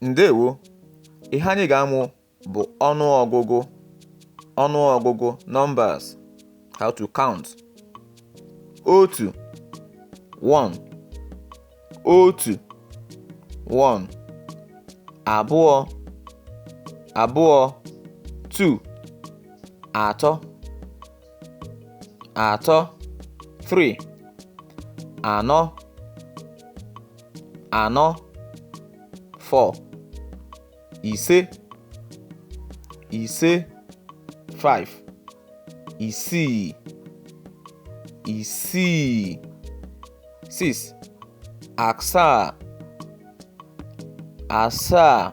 ǹdeèwo ihe anyị ga-amụ bụ̀ ọnụ ọgụgụ ọnụ ọgụgụ numbers how to count otu one otu one abụọ abụọ two atọ atọ three anọ anọ four ise ise five isii isii six asaa asaa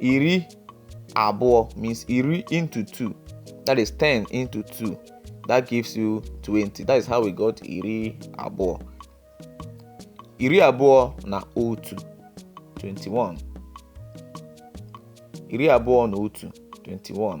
iri abụọ means iri into two that is 10 into two that gives you 20 that is how we got iri abụọ iri abụọ na otu 21 iri abụọ na otu 21